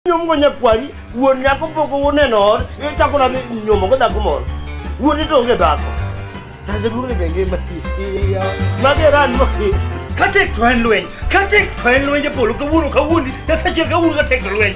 nyomgo nyakwari wuon nyako pok wuon en or ichako na nyomo go dhako moro wuon ito onge dhako taze duong ni benge mageran mo katek to en lweny katek to en lweny japolo kawuono kawuondi nyasachiel kawuono katek to lweny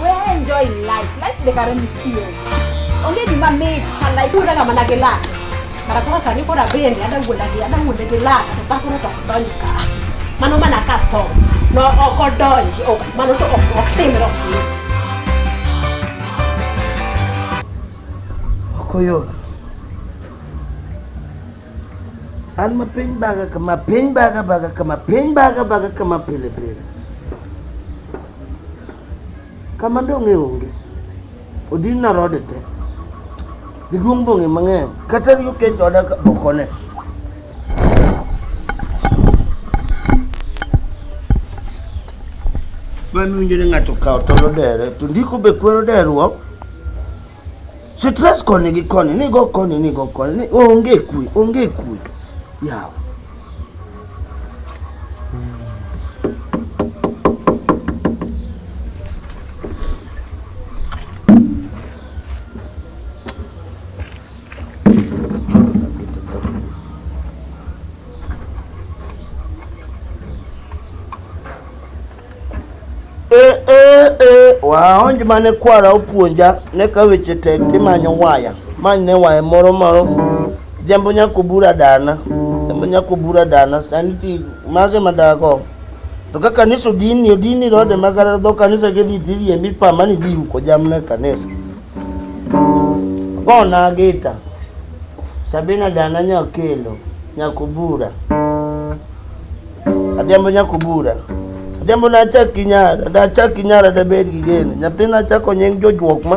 Well, enjoy life. Life the current feel. Only the man made her life. Kuna kama na gela. Mara kwa sani kwa rabeli ada wala gela ada wala gela kata kuna to kutoni ka. Mano mana kato. No okodoni. Oh, mano to okotemi rofi. Okoyona. An ma piny baga kama, piny baga baga kama, piny baga baga kama pile pile. Kama dong'e onge. Odin na rode te. Jaduong' bong'e mang'eny. Kata riyo kech oda ka- okone. Mano winjo ni ng'ato kawo tol odere, to ndiko be kwero deruok. Stress koni gi koni, ni go koni, ni go koni, ni onge kwe, onge kwe. Yawa. Eh, eh, eh, waonj mane kwara opuonja ne ka weche tek timanyo waya many ne waya moro moro jambo nyako bura dana jambo nyako bura dana sani ti mage madago to ka kanisa odini odini rode magara dho kanisa gidhi tirie mipama ni dhi yuko jamna e kanisa bona gita sabina dana nyakelo nyako bura Adhiambo nyako bura. Adhiambo na achak gi nyara, da achak gi nyara da bed gi gene. Nyathina achako nying jojuok ma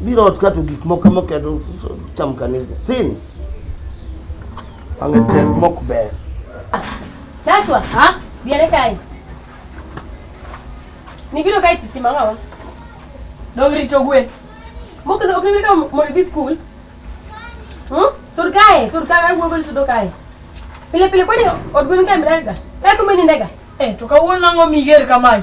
biro ot kato gik moko moketho cham kanisa tin ang'e tek mok ber Taswa, ha? Biare kae. Nibiro kae titi mangawa. Dong rito gwe. Moko no okni ka mo di school. Hm? Sur kae, sur kae gwe gol sudo kae. Pile pile kwani odgun kae mrega. Kae kumeni ndega. Eh, to kawuono nang'o miger kamae?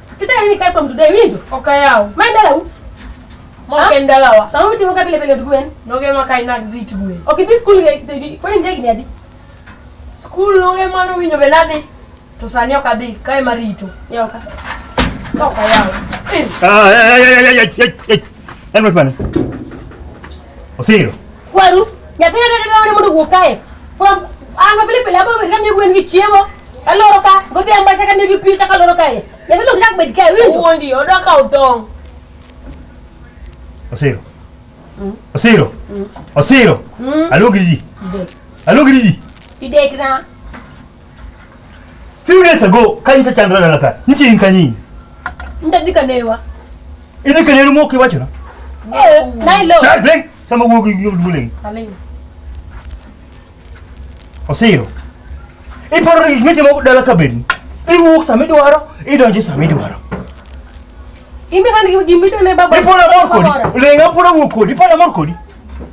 Kitaka nini kae kwa mtu dai winjo? Okayao. Maenda lau. Mwake ndala wa. Tamu mti mwaka pile pile ndugwen. Noge mwaka ina grit gwen. Okay, this school eh, eh, kwa nini ndegi nyadi? School noge mwana winjo beladi. Tusani okadhi kae marito. Yoka. Okayao. Ah, ay, ay, ay, ay, ay, ay. Helmet bana. Osiro. Kwaru, nyathina dada dada mondo wuok kae. From anga pile pile abo benda mi gwen gi chiemo. Aloro ka, godhi amba chaka mi gi pi chaka loro kae. Nyathina ok nyak bed kae, winjo? Wuondi, odwa kawo tong'. Osiro. Mm. Osiro. Mm. Osiro. Mm. Alogiri ji. Alogiri ji. Idek na. Few days ago kanyi cha chandra dala ka. Nchi in kanyi. Ndadhi kanewa. Idhi kaneru moki wacho na. Eh, nai lo. Cha bling. Sama wuok gi gi bling. Aling. Osiro. Iparo gik mitimo dala ka bedni. Iwuok sama idwaro, idonjo sama idwaro. Imbe man gi gimito ne baba. Ipona mor kodi. Lenga pona wuok kodi. Ipona mor kodi.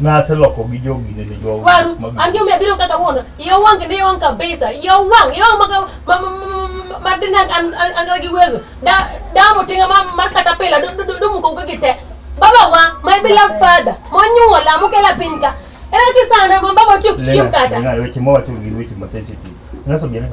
naseloko gi jogi ne jo waru angio me biro kaka wono iyo wangi ne wang kabisa iyo wang iyo maga madina an an gi wezo da da mo tinga ma mar kata pela do do do muko ko gite baba wa my beloved father mo nyuola mo kela pinka era ki sana mo baba tu chim kata ngalo weche mo watu gi weche ma sensitive naso gele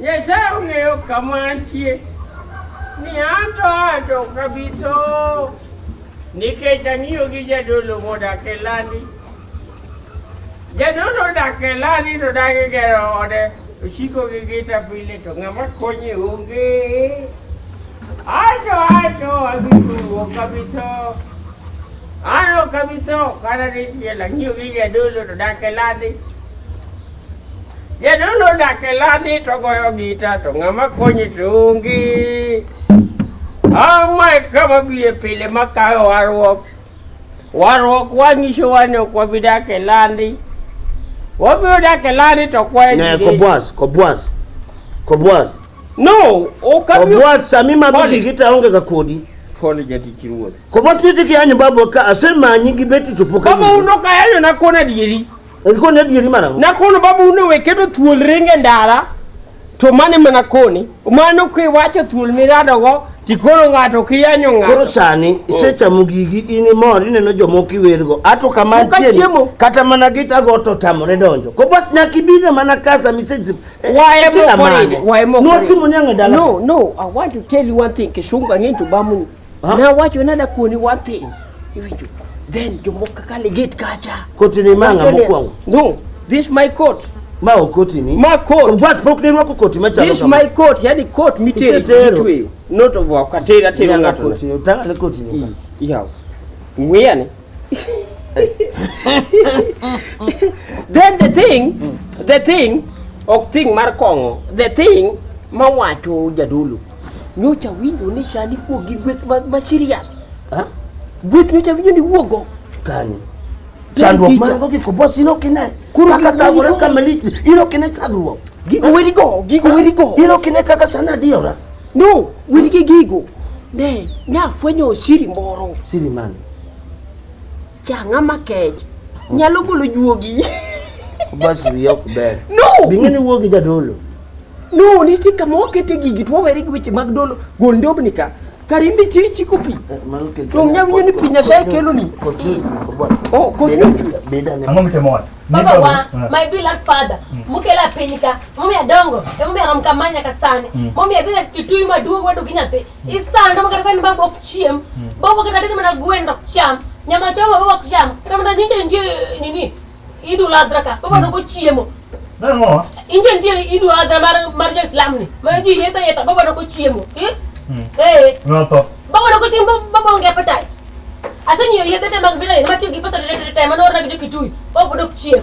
Nyasaye ong'eyo kama antie ni an to ato kabitho nikech ang'iyo gi jadolo modak e landi. Jadolo odak e landi to dagi gero ode osiko gi gita pile to ng'ama konye onge. Ato ato abitho kabitho ano kabitho kata ni tiel ang'iyo gi jadolo to dak e landi. Jadolo odak e lani to goyo gita to ng'ama konye to onge. Ang'o e kama biye pile makayo warruok. Warruok wanyisowa ni ok wabi dak e landi. Wabiro dak e landi to kwaye Ne gige. kobwas, kobwas. Kobwas. No, ok abi- Kobwas sami madho Pole. gigi to aonge ga kodi. Pole jatich ruoth. Kobwas nitie kiyanyo babo ka asemanyi gi beti to pok Baba ayudi. uno kayayo na kona dieri. Koni adieri mana. Na kono babu uno weketo thuol ringe ndara to mane mana koni. Mano kiwacho thuol miradogo tikoro ng'ato kiyanyo ng'ato. Koro sani oh. isechamo gigi in imor ineno jomoko iwergo ato kama ntieni kata mana gitago to tamore donjo ko bas nyaka ibine mana kasa miseji eh, waemokoriwatimo nyang'e dala no no i want to tell you one thing kishungu ang'e to bamuni Ha? Na wacho nada koni one thing. Iwinjo. Then jomoko kaka legate kacha. Koti ni manga Wacho ni- mokwongo. No, this my coat. Ma okoti ni. Ma coat. Bas pok ne rwako koti machalo This my coat, yani coat miteri Usetero. mitweyo. Not of wakatera tero Nyanga ng'ato. koti. Tang'ane koti ni. Yaw. Ng'weyane. then the thing the thing ok thing mar kong'o the thing mawacho jadolo nyocha winjo ni sani wuok gi gweth ma, ma serious Ha? gweth nyocha winjo ni wuogo Kani. Chandruok picha. man go giko boss ino kine. Kuro Kaka giko tagore giko. kama lich. Ino kine chandruok. gigo werigo gigo werigo Ino kine kaka sana adiora. no wen gi gigo ne nyafwenyo siri moro Siri man. Changa makech. Nyalo golo juogi. Bas wiye ok ber. No! Bing'e ni wuo gi jadolo. No, nitie kama wakete gigi to wawere gi weche mag dolo. Gol ndobni ka. Karimbi chiri chiko pi. To nya winyo ni pi Nyasaye kelo ni. Oh, koth ni ochwe. Ang'o mitimo wat? Baba wa, Eh. my beloved father, mukela piny ka, momiyo adongo, emomiyo arom kama nyaka sani. Momiyo abiro gi tuyi maduong' wadu gi nyathi. Isanda mo kata sani baba ok chiem. Hmm. Baba kata dede mana gwen dok cham. Nyama choma baba ok cham. Kata mana nyinche nje nini idu ladra ka. Baba hmm. no ko chiemo. Nango? Inje nje idu ladra mar mar jo Islam ni. Ma ji yeta yeta baba no ko chiemo. Eh? Hmm. Eh. No to. Baba no ko chiemo baba onge appetite. Asenyo yedhe te mag vile ni matiyo gi pesa te te te manora gi kitui. Baba dok chiemo.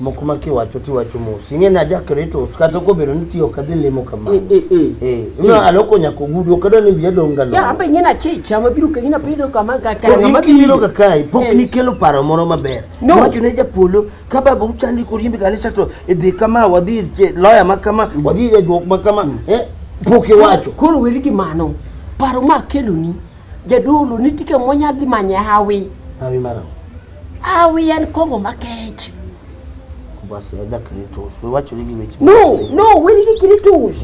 moko ma kiwacho tiwacho mos ing'e ni aja kretos kata kobedo ni tiyo kadhi limo kamano Eh, eh, eh. Eh, ino aloko nyaka ogudu ok adwa ni wiya dong' ga Ya, long'o. ambe nyina chicha mabiro ka nyina pido kama ka ka Koro ngama in kibiro ka kae pok Eh. nikelo paro moro maber No. wacho ne japolo ka baba uchandi koriembe kanisa to idhi kama wadhi ir che- loya ma kama wadhi ir jajuok ma kama eh, pok iwacho Koro weri gi mano. Paro ma keloni Jadolo ni tike monya dhi manye hawi. Hawi mara. Hawi en kongo makech. Basi ya dak ni tos. We wacho ligi weche. No, no, we ligi kini tos.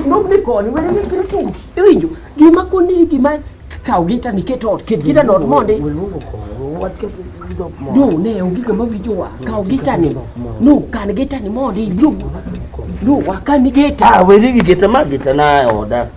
No ni koni, we ligi kini tos. Iwinjo, gima koni ni gima kaw gita ni keto ot, ket gita not mondi. We lugo koni, we wacho ligi dok mondi. No, ne, ongi kama vijo wa, kaw gita ni. No, kan gita ni mondi, lugo. No, wakan ni gita. Ah, we ligi gita ma gita na oda.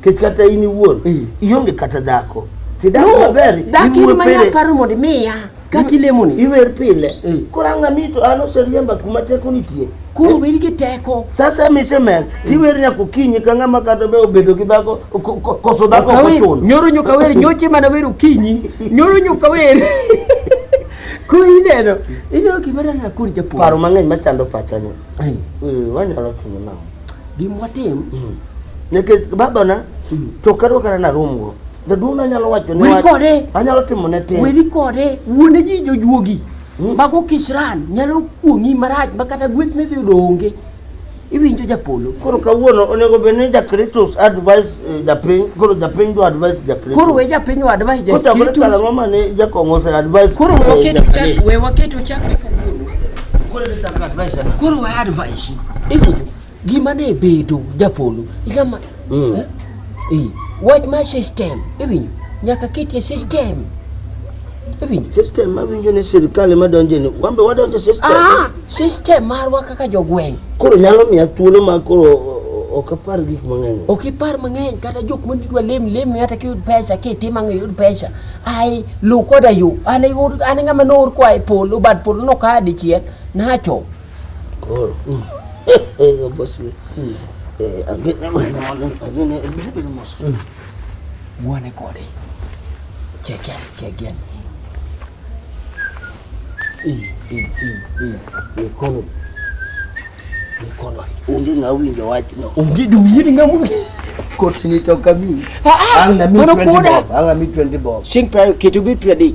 Nikech kata in iwuon Mm. ionge kata dhako. Tidak No, maber. dak in iwuo ma pile. nyaparo mondo imiya kaka ilemoni. Iwer pile. Mm. Koro ang'a mi to an oseriemba kuma teko nitie. Koro wer gi teko. Sasa misemer tiwer nyaka okinyi ka ng'ama kata be obedo gi dhako ko- ko- koso dhako ok Okawer, ochuno. Nyoro nyuka wer, nyoche mana wer okinyi. Nyoro nyuka wer. Ko ineno, ineno gima nana kod japuonj. Paro mang'eny machando pachani. Ai. Eh, Wanyalo timo nang'o? Gim watim. Mm. Nikech baba na mm. to karo kara na room go. Jaduong' na nyalo wacho ne wach. Kode. Anyalo timo ne tin. Weri kode. Wuone ji jojuogi. Mm. Mago kishran nyalo kuong'i marach ma kata gweth ne dhi yudo onge. iwinjo japolo koro kawuono onego bed ni jakritus advice eh, japiny koro japiny do advice jakritus koro we japiny o advice jakritus koro ngoma ne jakong'o ose advice koro waketo eh, chak we waketo chakre kawuono koro we advice Iwinjo? Gima ne bedo japolo. Igama. Mm. Eh? Eh. Wach ma system. Iwinjo? Nyaka ketie system. Iwinjo? System ma winjo ni sirkal ema donjo ni. Wan be wadonjo e system. Ah, system marwa kaka jogweng'. Koro nyalo miya thuolo ma koro o- o- ok apar gik mang'eny. Ok ipar mang'eny kata jok ma nidwa lem lem kata kiyud pesa kitim ang'o iyud pesa. Ai luw koda yo. An ayud an ng'ama noor koa e polo bad polo nokaa dichiel nacho. koro obosi agene mos wane kode cheke cheke ikono ikono onge ng'a winjo wachno onge jomiyiri ng'a monge kotini to kami ang' na mi 20 bob ang' na mi 20 bob sing pare keto bi 20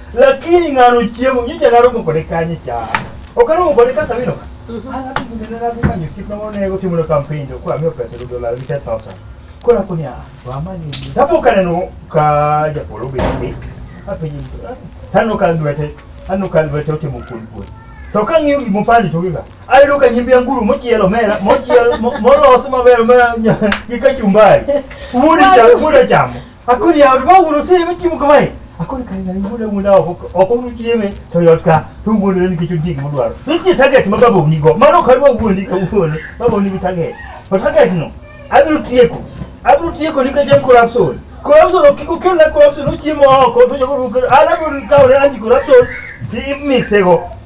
lakini ng'ano chiemo nyicha naromo kode kanye cha ok aromo kode ka sabino ka mhm. an adhi gudene nadhi manyo osiepna moro ne otimo na kampen to koro amiyo pesa dudo lal gi ten thousand koro akoni a wamanyo tapo kaneno ka japolo obedo piny apenje taneno ka lwete aneno ka lwete otimo kuon kuon to ka ng'iyo gik mopandi to giga ayudo ka nyimbi anguru mochielo mera mochiel molos maber ma gi kachumbari wuod chamo akori ya ba wuro sere ba chimu kamae akori kai na ngule ngula oko oko mu chieme to yot ka to ngule ni kichu jig mu dwaro niti target ma babo ni go mano ka ba wundi ka wundi babo ni target to target no abru tieko abru tieko ni ka jem corruption corruption okiko kenda corruption uchiemo oko to jogo ala go ka ore anti corruption ti mix ego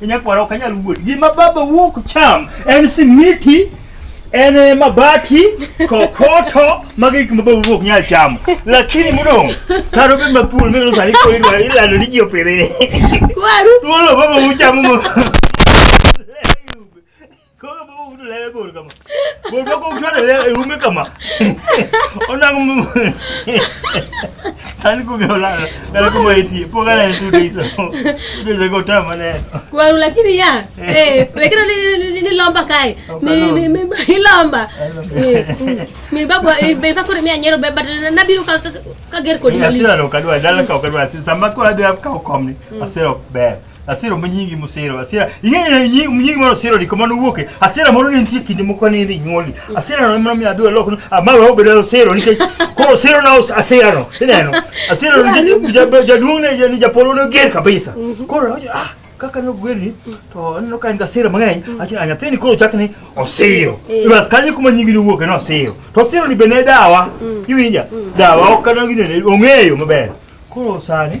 Nyakwara ok anyal wuoth. Gima baba wuok cham en simiti, en eh, mabati, kokoto, magi gik ma baba wuok nyal chamo. Lakini mudong' karo be mathuol mino sani koro idwa ilando ni ji opidhi ni. Waru. Thuolo baba wuok chamo mo. Kama baba utule yebo kama. Baba bako utule yebo ume kama. Ona ngumu. Sani kugeola. Nala kuma iti. Poka na yesu deisa. Deisa kota mane. Kwa lakini ya. Eh, lakini ni ni lomba kai. Ni ni ni ni lomba. Eh. Mi baba eh, be bako ni anyero be but na biru ka ka ger ko ni. Asira lo kadwa dala ka kadwa asira samako hadi ka komni. Asira be. Asira ma nyingi mosiro asira ing'eyo nyingi nyingi moro siro diko mano wuoke asira moro ne nitie kinde moko ne idhi nyuoli asira no mano mi adhi loko no ama wa obedo siro nikech koro siro na us- asira no ineno asira no nikech ja- ja- jaduong' ne ja- japolo ne ger kabisa koro awacho ah kaka ne ogwer ni to aneno ka en gi asira mang'eny acho ah nyathini koro chak ni osiro Eh. bas kanyo kuma nyingi ne wuoke no osiro to osiro ni be ne dawa iwinja dawa ok kano gine ong'eyo maber koro sani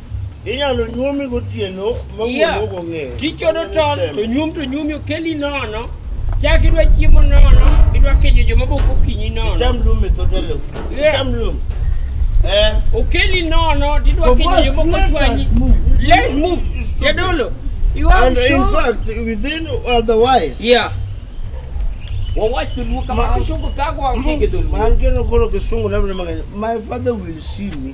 Inyalo nyuomi gotieno ma wuon yeah. ok ong'eyo. Tichodo tol to nyuom to nyuomi okeli nono. Chak idwa chiemo nono, idwa kejo joma bok okinyi nono. Cham lum e dho delo. Cham lum. Eh. Okeli nono, didwa kejo joma bok ochwanyi. Let's move. Jadolo. You are and sure? in fact, within otherwise. Yeah. Wawach to luo kama kisungu kago ang' kisungu. Man keno koro kisungu labda mang'eny. My father will see me.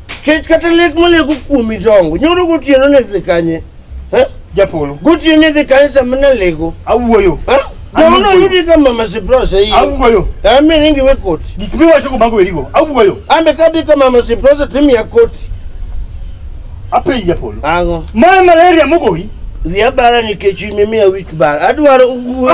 Kech kata lek maleko kuomi dongo. Nyoro gotieno ne dhi kanye? Eh? Japolo. Gotieno ne dhi kanye sama naleko? Awuoyo. Eh? Jamono Awuoyo. yudi ka mama Siprose hii. Awuoyo. Ami ningi we koti. Gik miwacho go mago erigo. Awuoyo. Ambe kadi ka mama Siprose timi ya koti. Apenji Japolo. Ango. Mara malaria mogoyi. Wiya bara nikech imimiya wich bara. Adwaro uwe.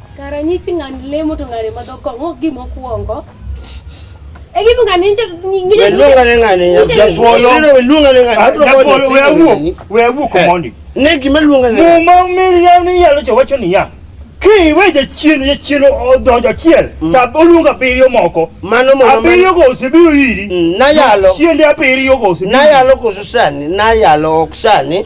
Kara nyichi ng'an lemo to ng'ane madho kong'o gimo kuongo. Egi bunga ninje ninje. Weluonga ne ng'ane japolo. Weluonga ne ng'ane japolo. We awuo. We awuo komondi. Eh, ne gima luonga ne. Muma miria ni yalo cho wacho niya. Ki we je chienu je chienu odonjo chiel. Mm. Ta oluonga biriyo moko. Mano mama. Abiriyo go osebiro iri. Mm, na yalo. Chiende abiriyo go osebiro. Na yalo go susani. Na yalo oksani.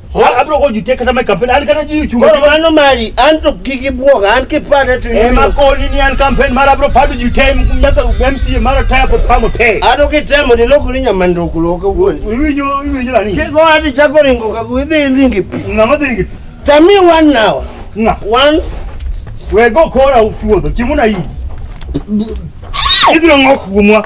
abiro go jutie kata ma kampen an kata ji uchungo koro mano mari an to kik ibwog an kipande to ema ibiro- koni ni an kampen mar abiro pado jutie nyaka mca mar ataya pod pamo te an to kitemo ni lokori nyamandoko loka wuon iwinjo iwinjo nani kigo ati chako ringo kago idhi iringi pi ng'ama dhi ngi tami wan nawa ng'a wan wego kora uchuodho chiemo na iyi ibiro ng'ok kuomwa